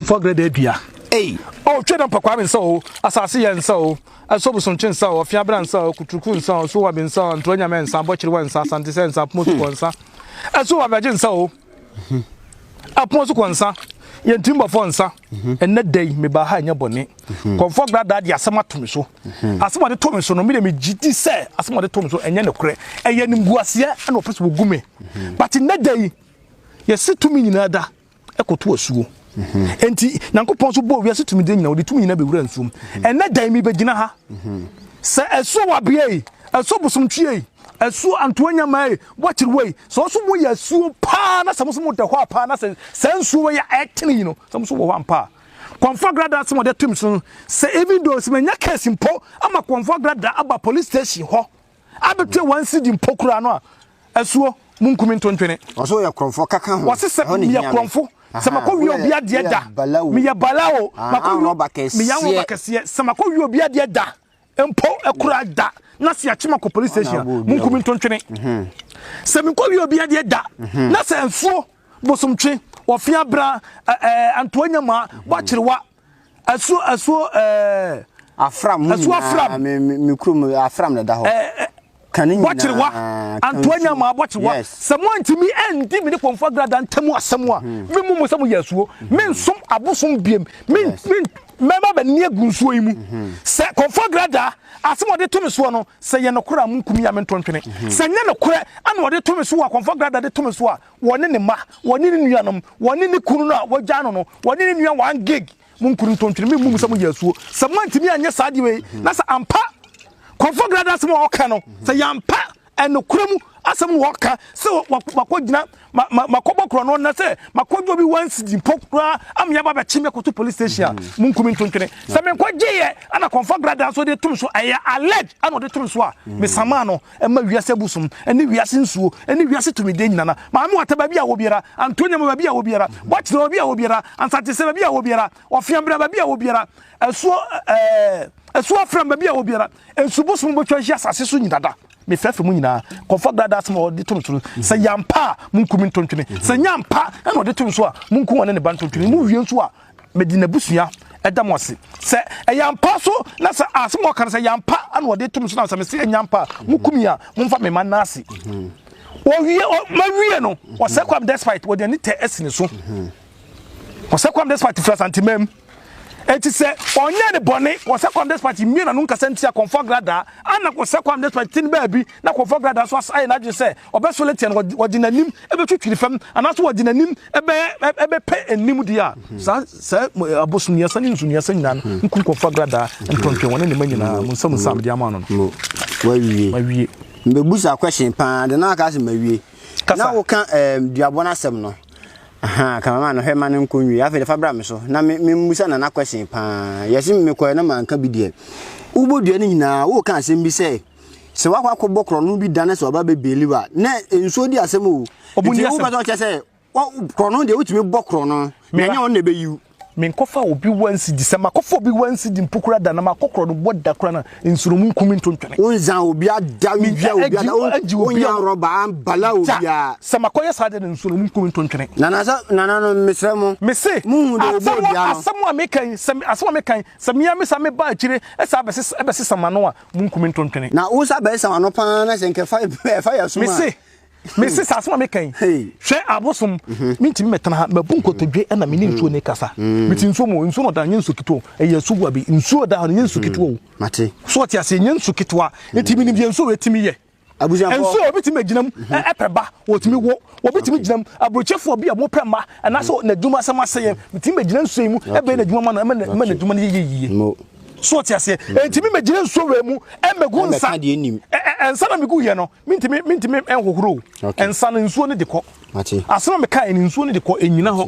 Fɔ grɛ dɛ dua ei oh Twɛ dɛ mpɔkwame nsa oo Asase yɛ nsa oo Ɛsɔ bosonkye nsa oo Ɔfea bra nsa oo Kuturuku nsa oo Suwabi nsa oo Ntorɔ nyamɛ nsa Abɔkyerewa nsa Asante sɛ nsa Apomo sukɔ nsa Ɛso abɛgye nsa oo Apomo sukɔ nsa Yɛn tirimbɔfoɔ nsa Ɛnnɛ da yi mebaa ha ɛnyɛ bɔne Kɔmfɔ gra daa deɛ asɛm ato me so Asɛm a ɔde to me so no medeɛ megye di sɛ Asɛm a ɔde to me so ɛnyɛ nokorɛ Ɛyɛ animguaseɛ na ɔpɛ sɛ ɔgu me But nnɛ da yi yɛse tumi nyinaa da ɛkoto asuo. Enti Nyankopɔn nso bɔɔ wiase tumidie nyina, ɔde tumi nyina bɛwura nsuom. Ɛnɛ da yi mebɛgyina ha sɛ asuo wabea yi, asuo bosomtwie yi, asuo antoa nyamaa yi, wakyerewa yi, sɛ ɔso moyɛ asuo paa na sɛ mo so moda hɔ a paa na sɛ saa nsuo wɔ yɛ ɛtene yi no sɛ mo so wɔ hɔ ampa a Kwanfo Agrada asɛm ɔde atum so no sɛ even though sɛ manya case mpo ama Kwanfo Agrada aba police station hɔ abɛtua wɔn sidi mpo koraa no a, asuo, monkum ntontwene. Wɔse wɔyɛ korɔmfoɔ kaka ho. Wɔse sɛ meyɛ korɔmfo, sɛ makɔ wie obi adeɛ da. Meyɛ bala o, makɔ wie obi adeɛ da. Meyɛ anrɔba kɛseɛ, sɛ makɔ wie obi adeɛ da mpo koraa da na sɛ yɛakye makɔ police station a, monkum ntontwene. Sɛ mekɔ wie obi adeɛ da na sɛ nsuo, bosomtwe, ɔfeabra, antoa nyamaa, bɔakyerewa, Ɛso ɛso ɛɛ. Afram mu ɛso afram. Me me me kurom afram na ɛda hɔ. Ɛɛ kane nyinaa. Bɔkyerewa antoa nya maa bɔkyerewa. Sɛ mo antumi ɛndi mi ne kɔnfɔ agrada ntamu asɛm a hmm. mi mu mo sɛ mo yɛ asuo. Hmm. Me nsom abosom biem. Me me mɛma bɛ ni egu nsuo yi mu. Hmm. Sɛ kɔnfɔ agrada asɛm ɔde to mi soɔ no sɛ yɛ nokora a mo nkumi ya me ntɔntwene. Sɛ nyɛ nokorɛ ɛna ɔde to mi so a kɔnfɔ agrada de to mi so a wɔne ne mma, wɔne ne nuanom, wɔne ne kunu no a wɔagyaa no no, wɔne ne nua one gig. Mo nkuru ntontwene, me mmu mo sɛ mo yɛ asuo. Sɛ mo antumi anyɛ saa deɛ wei, na sɛ ampa, kɔnfɔ grada asɛm a ɔka no, sɛ yampa, ɛnokura mu asɛm na ɔka, sɛ wakɔ gyina, ma, ma, makɔ bɔ korɔ no na sɛ makɔ gye obi one cedi mpo koraa, ama yaba bɛkye me akɔto police station a, mo nkuru ntontwene. Sɛ menkɔ gyeeɛ, ɛna kɔnfɔ grada nso de tom so, ɛyɛ alleged ɛna ɔde tom so a, mesamaa no. Ɛmma wiase abu som ne wiase nsuo ne wiase tumideɛ nyinana. Maame wata baabi a wɔ biara, Antonia ma baabi a wɔ biara, Bɔkye na baabi a wɔ biara, Ansatesɛ baabi a wɔ biara, Ɔfea bra baabi a wɔ biara, Asuo eh, Asuo Afram baabi a wɔ biara, Nsu bosom bɛtwa ahyia asase so nyinada. Mefɛfɛ mu nyinaa, kɔfa gradaasɛm a ɔde to no so no, sɛ yɛ ampa a, monku me ntontwene, sɛ nyɛ ampa na ɔde to no so a, monku ɔne ne ba ntontwene, mowie nso a, Mede n'abusua da mo ase sɛ ɛyɛ ampa so na sɛ asɛm a ɔka no sɛ ɛyɛ ampa na ɔde to me so na sɛ mese ɛnyɛ ampa a moku me a momfa me ma nna ase wɔwie mawie no ɔsɛ kwam despite wɔde ani tɛ asi ne so ɔsɛ kwam despite firi asantemam ɛti sɛ ɔnyɛ ne bɔne ɔsɛ kwam despite mmie na no nkasa ntia kɔmfɔ gradaa ana ɔsɛ kwam despite ti no baabi na kɔmfɔ gradaa so ayɛ n'adwene sɛ Ɔbɛsɔre atia no, ɔde n'anim bɛtwitwiri fam, anaasɛ ɔde n'anim bɛpɛ anim deɛ a, saa saa abosonniasa ne nsonniasa nyinaa no, nku nkurɔfoɔ agradaa, ntɔntwɛn wɔne ne mma nyinaa, monsa mu nsa a mede ama no no. Wawie. Mawie. Mbɛbusa question paa, de na aka sɛ mawie. Kasa. Na woka um, duabɔ no asɛm no. Aha, kamama no hwɛ ma no nkɔ nwie. Afei de fa bra me so. Na me, me mmusa nana question paa. Yɛse mekɔɛ na manka bi deɛ. Wobɔ dua no nyinaa, woka asɛm bi sɛ, Sɛ wakɔ akɔbɔ korɔno bi da na sɛ ɔba bɛbeli wo a, na nsuo di asɛm o. Ɔmu ni asɛm. Nti wobɛsɛ ɔkyɛ sɛ korɔno deɛ wotumi bɔ korɔno na ɛnyɛ ɔno na ɛbɛyiw. Menkɔfa obi wa nsi di. Sɛ makɔfa obi wa nsi di mpo kora da na makɔ korɔno bɔ da kora na nsuro mu nkumi nto ntwene. Wonza obi ada, wonwia obi ada, wonya rɔba ambala obi a. Sɛ makɔyɛ saa deɛ na nsuro mu nkumi nto ntwene. Nana sɛ, nana no mesrɛ mo. Mese, asɛm a meka yi, sɛ asɛm a meka yi, sɛ mea mesa meba akyire ɛsa ɛbɛsesa mano a, Munkum me ntontwene. Na wo nsa bɛsam ano pa ara na sɛ nka ɛfa ɛfa yɛ som a. Mese, mese saa asɛm a meka yi, hwɛ abosom, mhm. mentumi mɛtena ha, mabu nkotodwe na mene nsuo ne kasa. Mhm. Mete nsuo mu, nsuo no ɔda nyɛ nsuo ketewa o, ɛyɛ asuwa bi, nsuo da hɔ no nyɛ nsuo mhm. ketewa o. Mate. So ɔte aseɛ, nyɛ nsuo ketewa, enti menim deɛ nsuo wei tumi yɛ. nso obi tumi agyinam mhm. ɛpɛ ba wɔtumi wo obi tumi gyinam aburokyefoɔ bi a wɔpɛ ma anaasɛ mhm. n'adwuma asɛm ase yɛ mhm. tumi bɛgyina nsuo yi mu ɛbɛyɛ n'adwuma ma no ɛma n'adwuma no yɛ yie so ɔte aseɛ ɛntumi mɛgyina nsuo wei mu ɛmɛgu nsa ɛnsa na megu yɛ no mentumi mentumi ɛnhohoro ɛnsa no nsuo no de kɔ asɛm a meka ɛne nsuo no de kɔ ɛnyina hɔ